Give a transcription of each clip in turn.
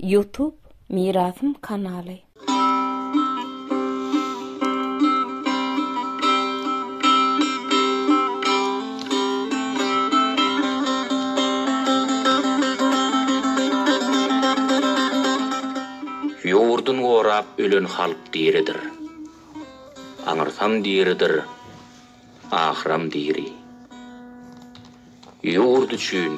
Youtube mirasym kanaly. Ýurdun gorap ölen halk diridir. Aňyrsam diridir, ahyram diri. Ýurt üçin.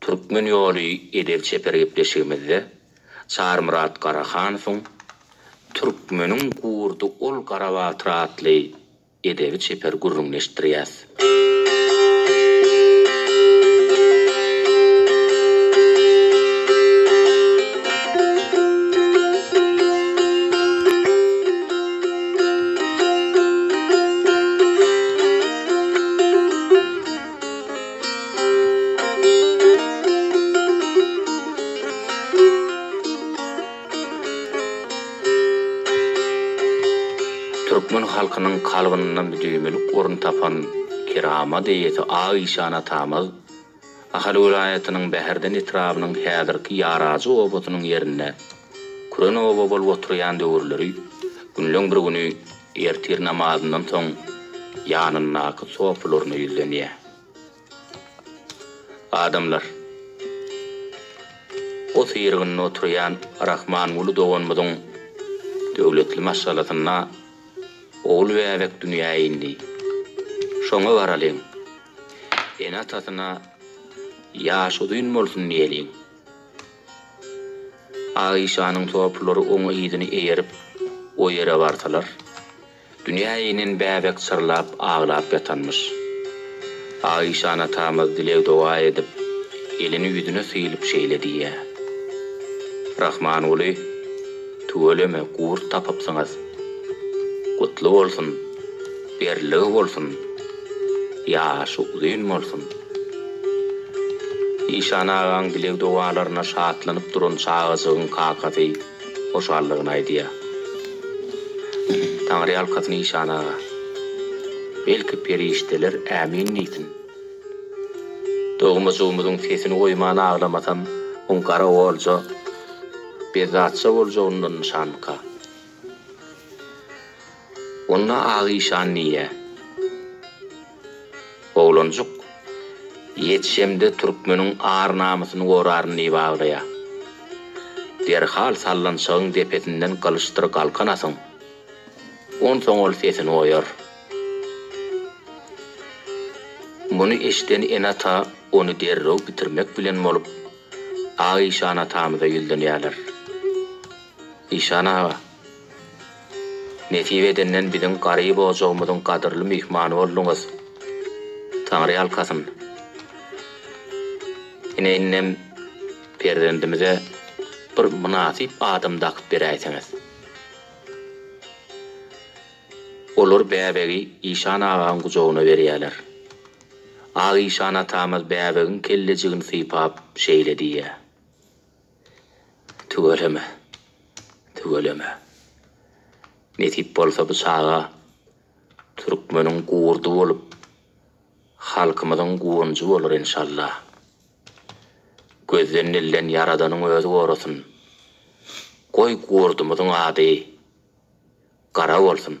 Türkmen ýoly edep-çeper gepleşigimizde Çarymyrat Garahanowyň Türkmeniň gurdy ol Garabatyr atly edebi çeper gürrüňini eşitdirýäs. Türkmen halkynyň kalbynda müdimilik orun tapan keramat eýesi Ak işan atamyz Ahal welaýatynyň Bäherden etrabynyň häzirki Ýarajy obasynyň ýerinde küren oba bolup oturýan döwürleri günleň bir güni Ertir namazyndan soň ýanyndaky sopularyna ýüzlenýär. Adamlar, o syrygynda oturýan Rahmanguly doganymyzyň döwletli maşgalasynda ogul bäbek dünýä indi. Şoňa baralyň, ene-atasyna ýaşy uzyn bolsun diýeliň. Aişanyň topulary oň yzyny eýerip, o ýere barsalar, dünýä inen bäbek çyrlap aglap ýatanmyş. Aişan atamyz dileg-doga edip, elini ýüzüne sylyp şeýle diýýär, Rahmanguly, tüweleme, gurt tapypsyňyz. Gutly bolsun, berligi bolsun! Ýaşy uzyn bolsun. Işan agaň dileg-dogalaryna şatlanyp duran çagajygyň kakasy hoşallygyny aýdýar. Taňryýalkasyn Işan aga. Belki perişdeler ämin diýsin. Dogmajygymyzyň sesini goýman aglamasam oň gara olja, bezzatja boljagyndan nyşanmyka? Onda Ak işan diýýär. Oglanjyk, Ýetişemde türkmeniň ar-namysyny goraryn diýip aglaýar. Derhal sallançagyň depesinden gylyçdyr galkan atyň. Onsoň ol sesini oýar. Muny eşiden ene-ata ony derrew bitirmek bilen bolup, Ak işan atamyza ýüzlenýärler. Işan aga! Nesip edenden biziň garyp ojagymyzyň gadyrly myhmany bolduňyz. Taňry ýalkasyn. Ine indem perzendimize bir mynasyp adam dakyp beräýseňiz. Olar bäbegi Işan agaň gujagyna berýäler. Ak Işan atamyz bäbegiň kellejigini sypap şeýle diýýär. Tüweleme. Tüweleme. Nesip bolsa bu çaga türkmeniň gurdy bolup, halkymyzyň guwanjy bolar enşalla. Gözden dilden Ýaradanyň özi gorasyn. Goý gurdumyzyň ady Gara bolsun.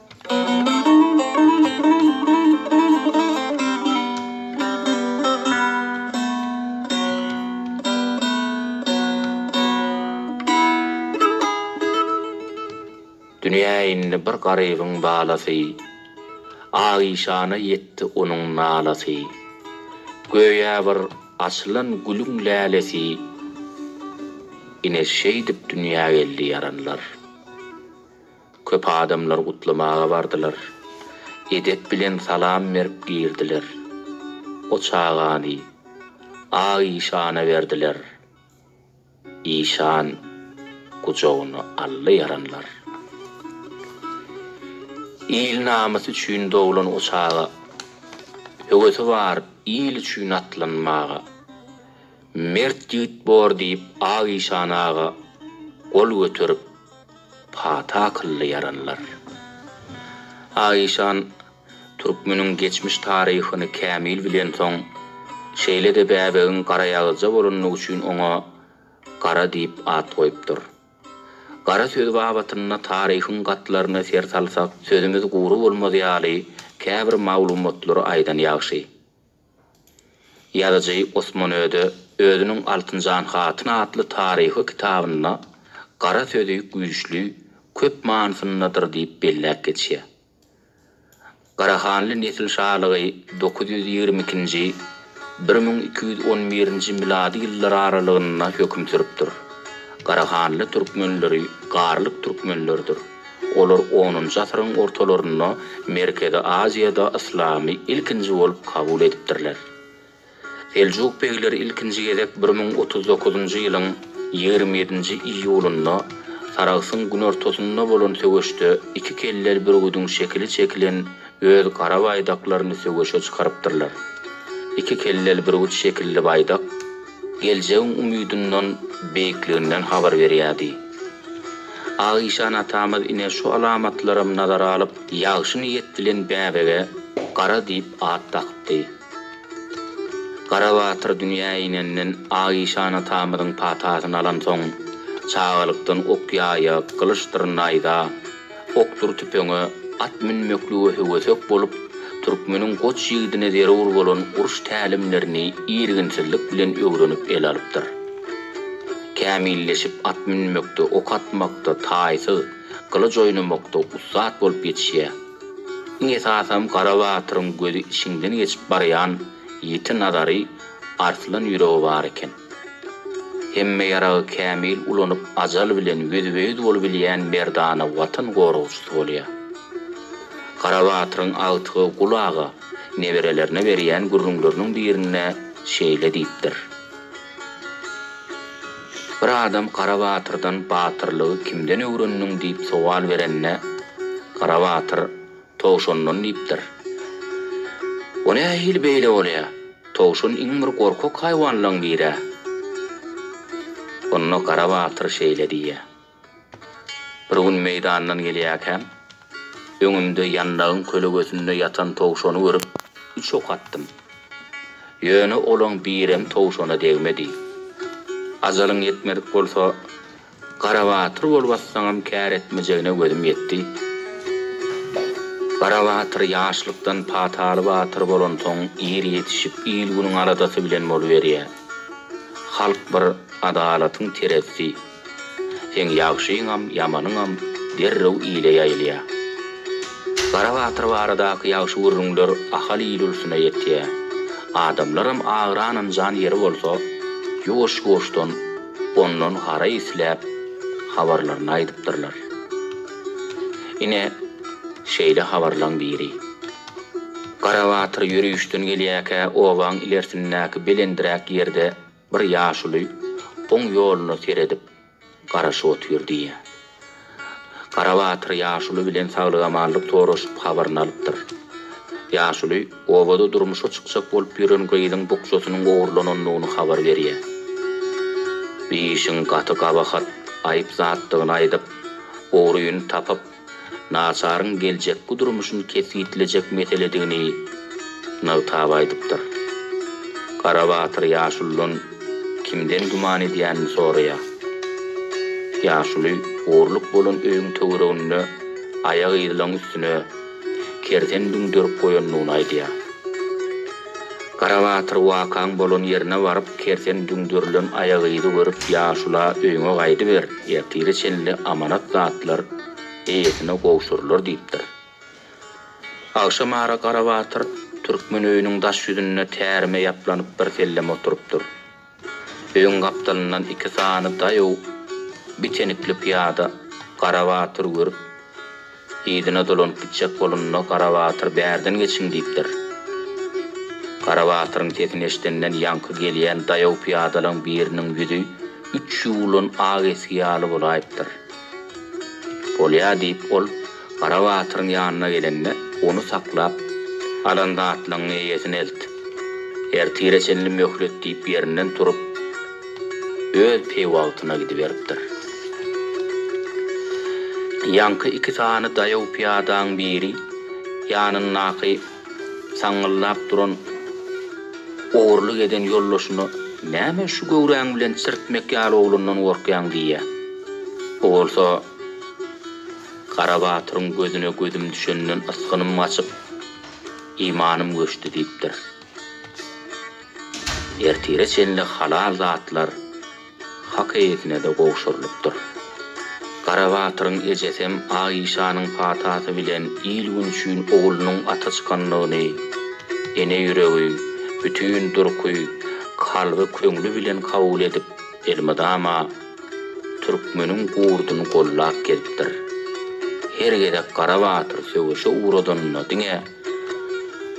Dünýä indi bir garybyň balasy, Aişana ýetdi onuň nalasy. Göýä bir açylan gülüň lälesi, Ine şeýdip dünýä geldi ýaranlar. Köp adamlar gutlamaga bardylar. Edep bilen salam berip girdiler. O çagany Ak işana berdiler. Işan gujagyna aldy ýaranlar. Il namysy üçin doglan o çaga höwesi bar il üçin atlanmaga. Mert ýigit bor diýip Ak işan aga gol göterip Pata akylly ýaranlar. Aişan türkmeniň geçmiş taryhyny kämil bilensoň, şeýle-de bäbegiň garaýagyzja bolandygy üçin oňa Gara diýip at goýupdyr. Gara sözi babatynda taryhyň gatlaryna ser salsak, sözümiz gury bolmaz ýaly käbir maglumatlary aýdan ýagşy. Ýazyjy Osman Öde özüniň Altynjan hatyn atly taryhy kitabynda Gara sözi güýçli, köp manysyndadyr diýip belläp geçýär. Garahanly nesil şalygy dokuz ýüz ýigrimi ikinji, bir müň iki ýüz on birinji milady ýyllar aralygynda höküm sürüpdir. Garahanly türkmenleri garlyk türkmenleridir. Olar onunjy asyryň ortalarynda Merkezi Aziýada yslamy ilkinji bolup kabul edipdirler. Seljuk begleri ilkinji gezek bir müň otuz dokuzynjy ýylyň ýigrimi ýedinji iýulynda Saragsyň günortasynda bolan söweşde iki kelleli bürgüdiň şekili çekilen öz gara baýdaklaryny söweşe çykarypdyrlar. Iki kelleli bürgüt şekilli baýdak. geljegiň umydyndan, beýikliginden habar berýärdi. Agyşan atamyz ine şu alamatlaram nazara alyp, ýagşy niýet bilen bäbege Gara diýip at dakypdy. Garabatyr dünýä inenden, Agyşan atamyzyň patasyny alansoň, çagalykdan ok-ýaýa, gylyçdyr naýza, Okdur tüpeňe, at münmeklige höwesek bolup, türkmeniň goç ýigidine zerur bolan uruş tälimlerini irginsizlik bilen öwrenip ele alypdyr. Kämilleşip at münmekde, ok atmakda taýsyz, gylyç oýnamakda ussat bolup ýetişýär. Iň esasam Gara batyryň gözi içiňden geçip barýan ýiti nazary, arslan ýüregi bar eken. Hemme ýaragy kämil ulanyp ajal bilen ýüzbe-ýüz bolubilýän merdana Watan goragçysy bolýar. Garabatyryň agtygy Gul aga neberelerine berýän gürrüňleriniň birinde şeýle diýipdir. Bir adam Garabatyrdan batyrlygy kimden öwrendiň diýip sowal berende, Garabatyr Towşandan diýipdir. O nähili beýle bolýa? Towşan iň bir gorkak haýwanlaň biri-ä. Onda Gara batyr şeýle diýýä. Bir gün meýdandan gelýäkäm, öňümde ýandagyň kölegesinde ýatan towşany görüp, üç ok atdym. Ýöne olaň birem towşana degmedi. Ajalyň ýetmedik bolsa, Garabatyr bolup atsaňam kär etmejegine gözüm ýetdi. Garabatyr ýaşlykdan pataly batyr bolansoň ir ýetişip il-günüň aladasy bilen boluberýä. Halk bir adalatyň terezisi. Seň ýagşyňam, ýamanyňam derrew ile ýaýylýa. Garabatyr baradaky ýagşy gürrüňler Ahal il-ulsuna ýetýä. Adamlaram agyran-ynjan ýeri bolsa ýuwaş-ýuwaşdan. ondan gara isläp, habarlaryny aýdypdyrlar. Ine, şeýle habarlaň biri. Garabatyr ýörüşden gelýärkä obaň ilersindäki belendiräk ýerde bir ýaşuly oň ýoluna seredip, garaşyp otyrdy. Garabatyr ýaşuly bilen saglygamanlyk soraşyp habaryny alypdyr. Ýaşuly obada durmuşa çykjak bolup ýören gyzyň bukjasynyň ogurlanandygyny habar berýär. Bu işiň gaty gabahat, aýyp zatdygyny aýdyp, ogryny tapyp, naçaryň geljekki durmuşyny kesgitlejek meseledigini nygtap aýdypdyr. Garabatyr ýaşulydan. Kimden güman edýänini soraýar. Ýaşuly orluk bolan öýüň töwereginde aýak yzylaň üstüne kersen düňderip goýandygyny aýdýar. Garabatyr wakaň bolan ýerine baryp kersen düňderilen aýak yzy görüp ýaşula öýüňe gaýdyber, ertire çenli amanat zatlar eýesine gowşurylar diýipdir. Agşam ara Garabatyr türkmen öýüniň daş ýüzünde tärime ýaplanyp birsellem oturypdyr. Öýüň gapdalyndan iki sany daýaw bitenikli pyýada Garabatyry görüp, yzyna dolanyp gitjek bolanda Garabatyr bärden geçiň diýipdir. Garabatyryň sesini eşidenden ýaňky gelýän daýaw pyýadalaň biriniň ýüzi üç ýuwulan ak esgi ýaly bolaýypdyr. Bolýa, diýip, ol Garabatyryň ýanyna gelende, ony saklap, Alan zatlaňňy eýesine elt. Ertire çenli möhlet, diýip, ýerinden turup, öz peýwagtyna gidiberipdir. Ýaňky iki sany daýaw pyýadaň biri ýanyndaky. Saňňyldap duran ogurlyk eden ýoldaşyna Näme şu göwräň bilen çirtmek ýaly oglandan gorkýaň diýýär. O bolsa Garabatyryň gözüne gözüm düşenden ysgynym gaçyp, imanym göçdi diýipdir. Ertire çenli halal zatlar. Hak eýesine-de gowşurylypdyr. Garabatyryň ejesem Aişanyň patasy bilen il-gün üçin oglunyň ata çykanlygyny, ene ýüregi, bütin durky, kalby, köňli bilen kabul edip, elmydama türkmeniň gurduny gollap gelipdir. Her gezek Garabatyr söweşe ugradanyna diňe,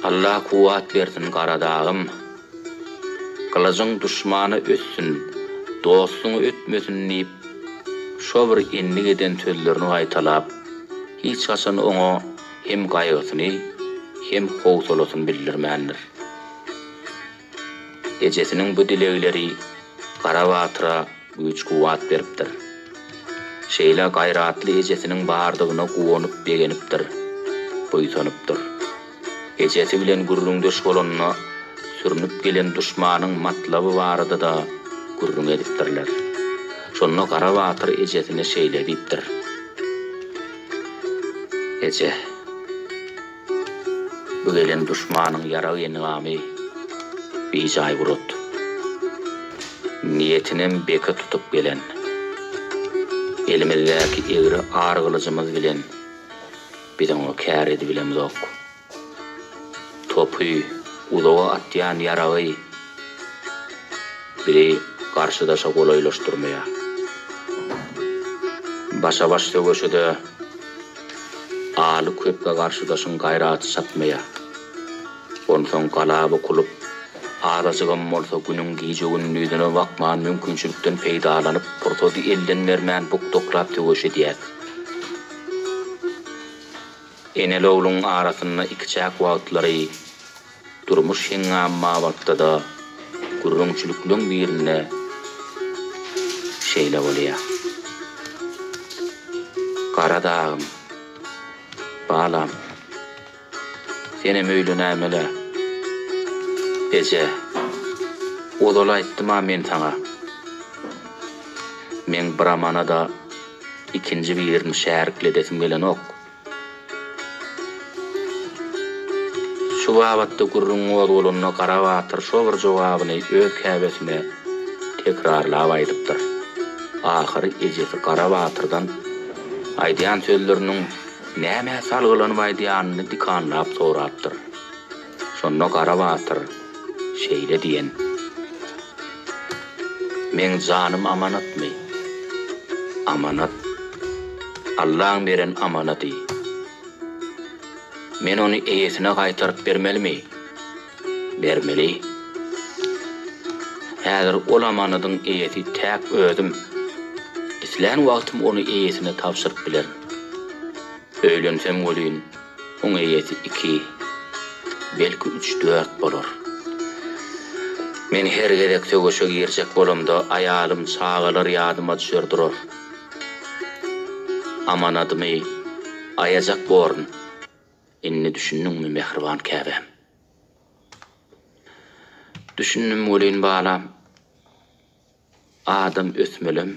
Alla kuwwat bersin, Garadagym! Gylyjyň duşmany ötsün, dostuň ötmesin diýip, şo bir endik eden sözlerini gaýtalap, hiç haçan oňa hem gaýgysyny, hem howsalasyny bildirmändir. Ejesiniň bu dilegleri Gara batyra güýç-kuwwat beripdir. Şeýle gaýratly ejesiniň bardygyna guwanyp-begenipdir, buýsanypdyr. Ejesi bilen gürrüňdeş bolanda, sürnüp gelen duşmanyň matlaby barada-da gürrüň edipdirler. Şonda Gara batyr ejesine şeýle diýipdir, Eje, bu gelen duşmanyň ýarag-engamy bijaý bulut. Niýetinem beke tutup gelen. Elimizdäki egri ar gylyjymyz bilen Biz oňa kär edibilemzok. Topy, uzaga atýan ýaragy bizi garşydaşa golaýlaşdyrmaýar. Başa-baş söweşede Aly köpge garşydaşyň gaýraty çatmaýar. Onsoň gala bukulyp, azajygam bolsa günüň gije-gündizine bakman mümkinçilikden peýdalanyp, pursady elden bermän bukdaklap söweş edýäris. Enelogluň arasynda ikiçäk wagtlary durmuş heňňamy babatda-da gürrüňçilikleriň birinde şeýle bolýar. Gara dagym, balam! Senem öýlenäýmel-ä, eje. Ozal aýtdym-a men saňa. Meň Bramana-da ikinji birini şärik edesim gelenok. Şu babatda gürrüň gozgalanda Gara batyr şo bir jogabyny öz käbesine tekrarlap aýdypdyr. Ahyry ejesi Gara batyrdan aýdýan sözleriniň Nämä salgylanyp aýdýanyny dikanlap sorapdyr. Şonda Gara batyr şeýle diýen. Meň janym amanatmy? Amanat. Allaň beren amanady. Men ony eýesine gaýtaryp bermelimi? Bermeli. Häzir ol amanadyň eýesi täk özüm. Islän wagtym ony eýesine tabşyryp bilerin. Öýlensem welin, oň eýesi iki, belki üç-dört bolar. Men her gezek söweşe girjek bolamda aýalym, çagalar ýadyma düşer durar. Amanadymy aýajak borun. Indi düşündiňmi mähriban käbäm? Düşündim welin balam, adam ösmelem,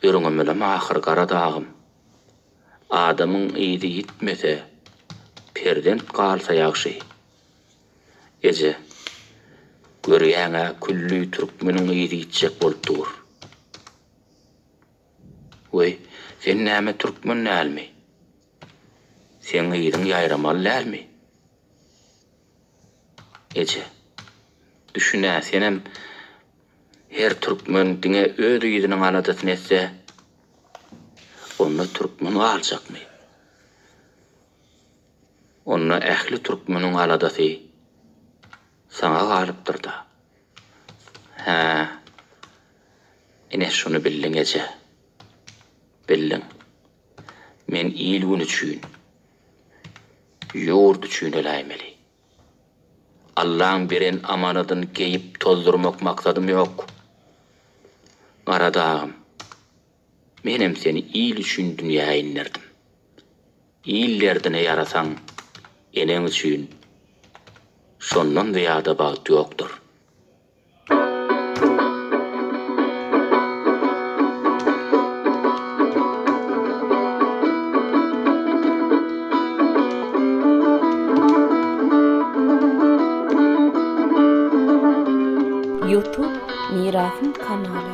ýörňemelem ahyr gara dagym. Adamyň yzy ýitmese, perzent galsa ýagşy. Eje, görýäň-ä külli türkmeniň yzy ýitjek bolup dur. Weý, sen näme türkmen dälmi? Seň yzyň ýaýramaly dälmi? Eje, düşün-ä, senem her türkmen diňe öz yzynyň aladasyny etse, onda türkmen galjakmy? Onda ähli türkmeniň aladasy saňa galypdyr-da. Hä. Ine şuny bildiň eje. Bildiň. Men il-gün üçin, ýurt üçin öläýmeli. Allaň beren amanadyn geýip tozdurmak maksadym ýok. Gara dagym. Menem seni il üçin dünýä inderdim. Il derdine ýarasaň, eneň üçin şondan zyýada bagt ýokdur. Youtube Mirasyň kanaly.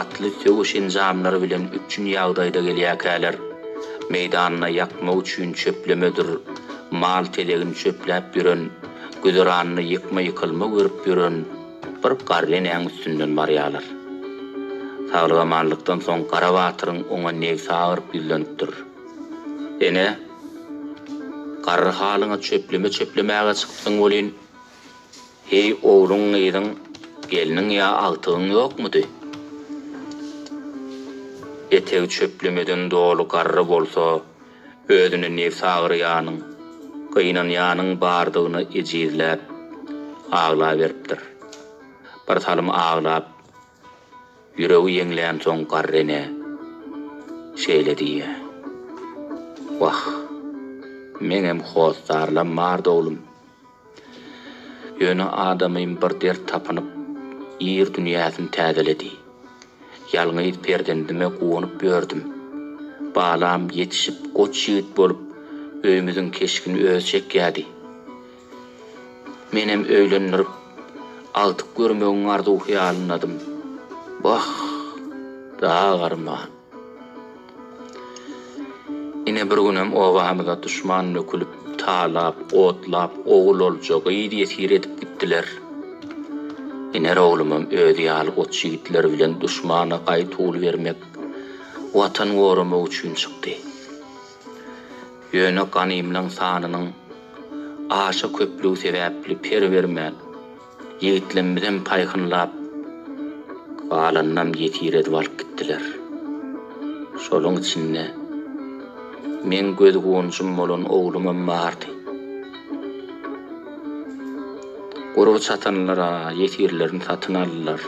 Atly söweş enjamlary bilen üpjün ýagdaýda gelýärkäler, meýdanyna ýakmak üçin çöplemedir mal telegini çöpläp ýören, güzeranyny ýykma-ýykylma görüp ýören bir garry enäň üstünden barýarlar. Saglyk-amanlykdan soň Gara batyryň oňa nebsi agyryp ýüzlenipdir. Ene, garry halyňa çöpleme çöplemäge çykypsyň welin, Heý, ogluň, gyzyň, gelniň ýa agtygyň ýokmudy? Etegi çöplemeden doly garry bolsa, özüni nebsi agyrýanyň, gynanýanyň bardygyny ejizläp, aglaberipdir. Bir salym aglap, ýüregi ýeňlänsoň garry ene şeýle diýýär, Wah, meňem hossarlam bardy, oglum. Ýöne adamym bir dert tapynyp, ir dünýäsini täzeledi. Ýalňyz perzendime guwanyp ýördüm. Balam ýetişip goç ýigit bolup, öýümiziň keşgini özi çekýärdi. Menem öýlendirip, agtyk görmegiň arzuw-hyýalyndadym. Wah, dagy arman! Ine, bir günem obamyza duşman nökülip, talap, otlap, ogul-olja, gyz-ýesir edip gitdiler. Iner oglumam özi ýaly goç ýigitler bilen duşmana gaý tuly bermek, Watan goramak üçin çykdy. Ýöne ganymlaň sanynyň aşa köplügi sebäpli per bermän, Ýigitlemizem paýhynlap, galanynam ýesir edip alyp gitdiler. Şoluň içinde meň göz-guwanjym bolan oglumam bardy. Gurby çatanlar-a ýesirlerini satyn aldylar.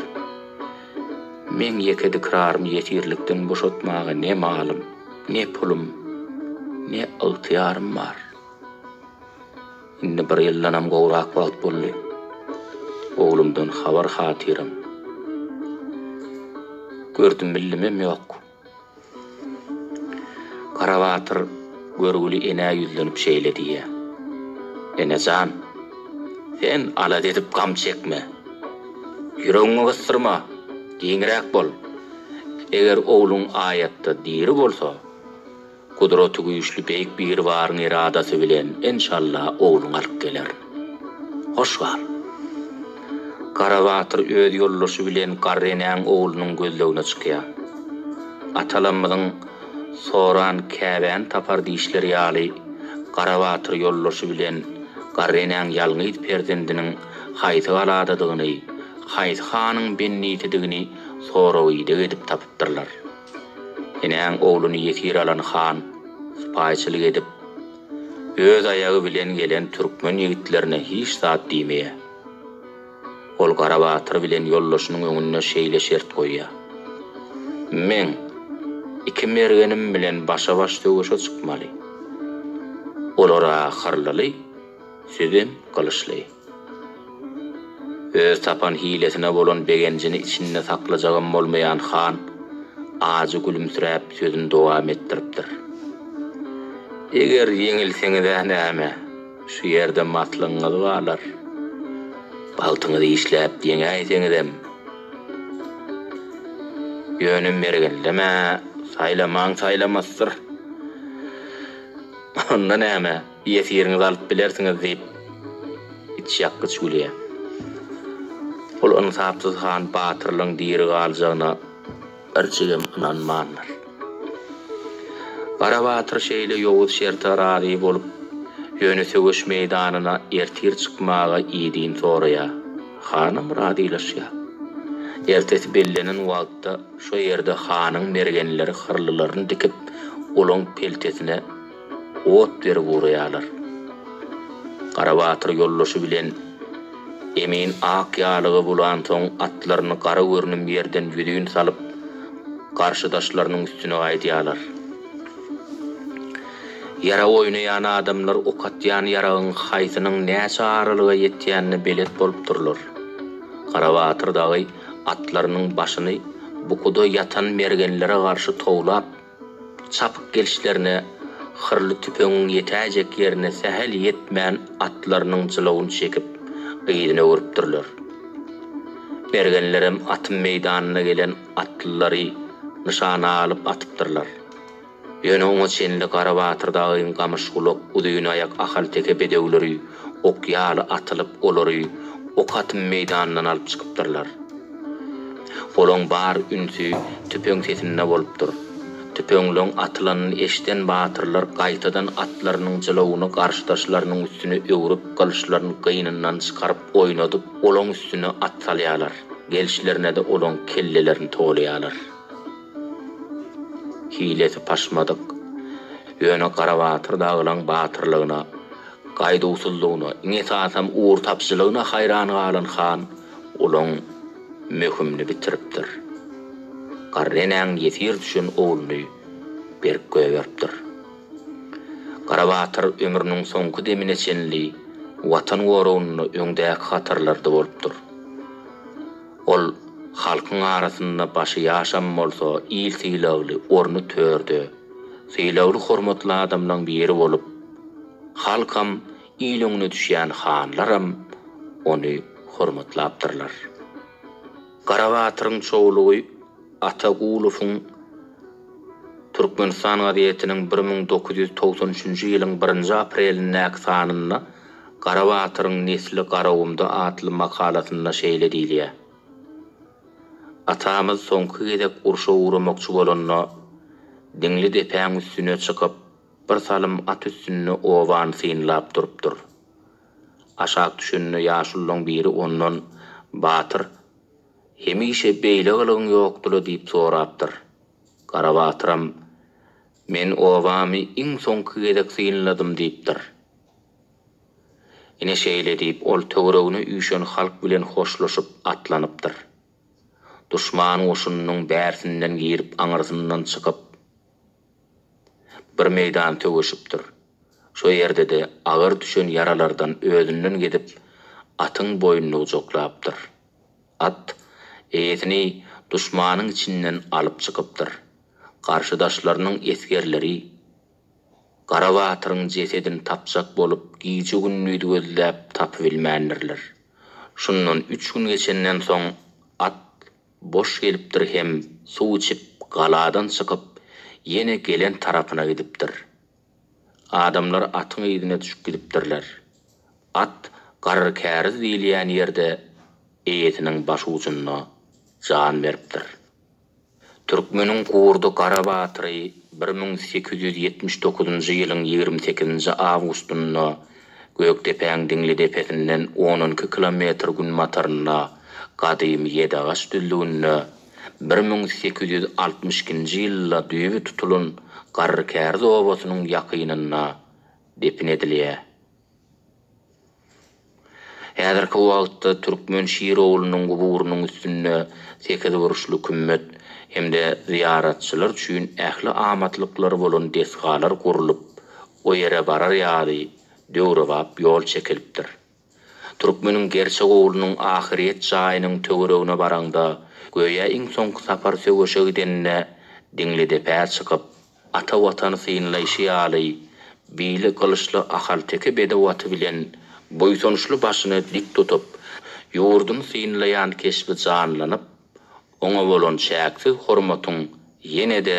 Meň ýeke dikrarymy ýesirlikden boşatmaga ne malym, ne pulum, ne ygtyýarym bar. Indi bir ýyldanam gowrak wagt boldy. Oglumdan habar-hatyram. Gördüm-bildimem ýok. Garabatyr görgüli enä ýüzlenip şeýle diýýär. Ene jan, sen alada edip gam çekme. Ýüregiňi gysdyrma, giňräk bol. Eger ogluň aýatda diri bolsa, Gudraty güýçli Beýik Biribaryň eradasy bilen enşalla ogluň alyp geler. Hoş gal. Garabatyr öz ýoldaşy bilen garry enäň oglunyň gözlegine çykýar. Atalarymyzyň Soran käbäni tapar diýişleri ýaly Garabatyr ýoldaşy bilen garry enäň ýalňyz perzendiniň haýsy galadadygyny, haýsy hanyň bendisidigini sorag-ideg edip tapypdyrlar. Enäň ogluny ýesir alan han sypaýyçylyk edip, öz aýagy bilen gelen türkmen ýigitlerine hiç zat diýmeýär. Ol Garabatyr bilen ýoldaşynyň öňünde şeýle şert goýýar, Men iki mergenim bilen başa-baş söweşe çykmaly. Olar-a hyrlyly, sizem gylyçly. Öz tapan hilesine bolan begenjini içinde saklajagam bolmaýan han ajy gülümsiräp sözüni dowam etdiripdir. Eger ýeňilseňiz-ä näme, şu ýerde maslygyňyz barlar. Bagtyňyzy işläp ýeňäýseňizem, ýöne mergenleme, saýlamaň saýlamasdyr. Onda näme? Ýesiriňizi alyp bilersiňiz, diýip, içýakgyç gülýär. Ol ynsapsyz han Batyrlyň diri galjagyna birjigem ynanmandyr. Gara batyr şeýle ýowuz şerte razy bolup, ýöne söweş meýdanyna ertir çykmaga idin soraýar. Hanam razylaşýar. Ertesi bellenen wagtda şo ýerde hanyň mergenleri hyrlylaryny dikip, olaň peltesine ot berip uraýarlar. Garabatyr ýoldaşy bilen Emin ak ýalyga bulansoň atlaryny gara görnüm ýerden ýüzin salyp, garşydaşlarynyň üstüne gaýdýarlar. Ýarag oýnaýan adamlar ok atýan ýaragyň haýsynyň näçe aralyga ýetýänine belet bolupdyrlar. Garabatyr dagy atlarynyň başyny bukuda ýatan mergenlere garşy towlap, Çapyk gelişlerine hyrly tüpeňiň ýetäýjek ýerine sähel ýetmän atlarynyň jylawyny çekip, yzyna öwrüpdirler. Mergenlerem atym meýdanyna gelen atlylary nyşana alyp atypdyrlar. Ýöne oňa çenli Gara Batyr dagyň gamyşgulak, uzynaýak ahalteke bedewleri ok ýaly atylyp olary ok atym meýdanyndan alyp çykypdyrlar. Olaň bar ünsi tüpeň sesinde bolupdyr. Tüpeňleň atylanyny eşden batyrlar gaýtadan atlarynyň jylawyny garşydaşlarynyň üstüne öwrüp gylyçlaryn gynyndan çykaryp oýnadyp olaň üstüne at salýarlar, gelşlerinede olaň kellelerini tolaýarlar. Hilesi paşmadyk, ýöne Garabatyr dagylaň batyrlygyna, gaýduwsyzlygyna, iň esasam ugur tapyjylygyna haýran galan han Olaň möhümini bitiripdir. Garry enäň ýesir düşen ogluny berk gögeripdir. Garabatyr ömrüniň soňky demine çenli Watan goragynda öňdäki hatarlarda bolupdyr. Ol halkyň arasynda başy ýaşam bolsa il sylagly orny törde, sylagly-hormatly adamlaň biri bolup, halkam Il öňüne düşýän hanlaram ony hormatlapdyrlar. Garabatyryň çowlugy Atagulowyň Türkmenistan gazetiniň bir müň dokuz ýüz togsan üçünji ýylyň birinji aprelindäki sanynda Garabatyryň nesli Garagumda atly makalasynda şeýle diýilýär, Atamyz soňky gezek urşa ugramakçy bolanda, Diňli depäň üstüne çykyp, Bir salym at üstünde obany synlap durupdyr. Aşak düşende ýaşululaň biri ondan, Batyr, hemişe beýle gylygyň ýokdy-la diýip sorapdyr. Garabatyram, Men obamy iň soňky gezek synladym diýipdir. Ine şeýle diýip, ol töweregine üýşen halk bilen hoşlaşyp, atlanypdyr. Duşman goşunynyň bärsinden girip, aňyrsyndan çykyp. Bir meýdan söweşipdir. Şo ýerde-de agyr düşen ýaralardan özünden gidip, atyň boýnuny gujaklapdyr. At, eýesini duşmanyň içinden alyp çykypdyr. Garşydaşlarynyň esgerleri, Gara batyryň jesedini tapjak bolup, gije-gündiz gözläp tapybilmändirler. Şundan üç gün geçenden soň, at Boş gelipdir hem suw içip galadan çykyp ýene gelen tarapyna gidipdir. Adamlar atyň yzyna düşüp gidipdirler. At Garrykäriz diýilýän ýerde eýesiniň başujunda jan beripdir. Türkmeniň gurdy gara batyry bir müň sekiz ýüz ýetmiş dokuzynjy ýylyň ýigrimi sekizinji awgustynda Gökdepäň diňli depesinden on iki kilometr günbatarynda, gadymy Ýedagaç düzlüginde bir müň sekiz ýüz altmyş ikinji ýylda düýbi tutulan Garrykäriz obasynyň ýakynynda depin edilýär. Häzirki wagtda Türkmen Şirowulynyň guburynyň üstünde sekizburçly kümmet hem-de zyýaratçylar üçin ähli amatlyklary bolan desgalar gurlup, O ýere barar ýaly döwrebap ýol çekilipdir. Türkmeniň gerçek oglunyň ahyryýet jaýynyň töweregine baraňda, göýä iň soňky sapar söweşe gidenine Diňlidepä çykyp, ata Watany synlaýşy ýaly, bili gylyçly ahalteke bedew aty bilen buýsançly başyny dik tutup, ýurduny synlaýan keşbi janlanyp, oňa bolan çäksiz hormatyň ýene-de